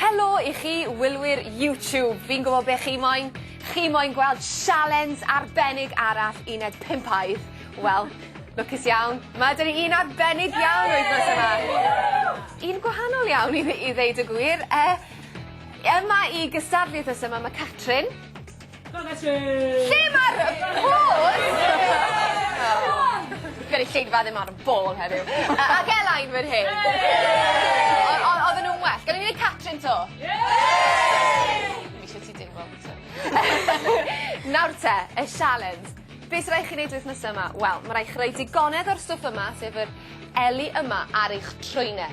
Helo i chi wylwyr YouTube, fi'n gwybod be chi moyn, chi moyn gweld sialens arbennig arall uned pimpaidd. Wel, lwcus iawn, ma' da ni un arbennig iawn wythnos yma. Un gwahanol iawn i i ddeud y gwir. Yy yma i gystadlu wythnos yma ma' Catrin. Lle ma'r pause? Gynulleidfa ddim ar y ball heddiw. Yy ag Elain fan hyn. O- o- odden nw'n well. Gawn ni neud Catrin 'to? Dwi'm isio ti deimlo am ŵan. Nawr te, y sialens. Be' sy rai' chi neud wythnos yma? Wel ma' rai' chi roi digonedd o'r stwff yma sef yr eli yma ar eich trwyne.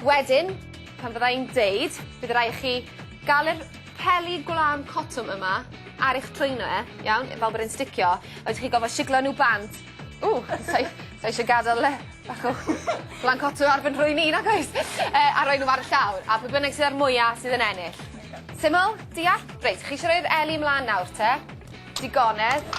Wedyn, pan fydda i'n deud, bydd rai chi gael yr peli gwlân cotwm yma ar eich trwyno e, iawn, fel bod e'n sticio, a wedyn chi gofod siglo nhw bant. Ww, sa eisiau gadael le bach o gwlân cotwm ar fy nhrwyn i, nag oes? E, a rhoi nhw ar y llawr, a pwy bynnag sydd ar mwyaf sydd yn ennill. Syml? Deall? Reit, chi eisiau rhoi'r eli ymlaen nawr te? Digonedd.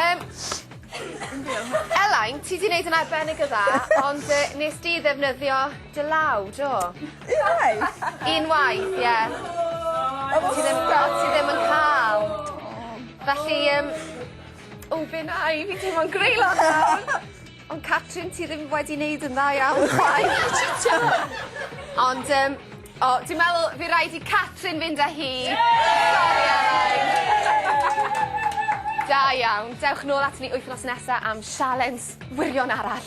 Yym. Elain, ti 'di neud yn arbennig o dda ond yy nes di ddefnyddio dy law, do? Unwaith. Unwaith, ie. O! Ti ddim o ti ddim yn ca'l. O. Felly yym. O fi'n ai fi teimlo'n greulon nawr. Ond Catrin, ti ddim wedi wneud yn dda iawn chwaith. Ond um, o, dwi'n meddwl fi rhaid i Catrin fynd â hi. Sorry, Elain. Da iawn. Dewch nôl at ni wythnos nesaf am sialens wirion arall.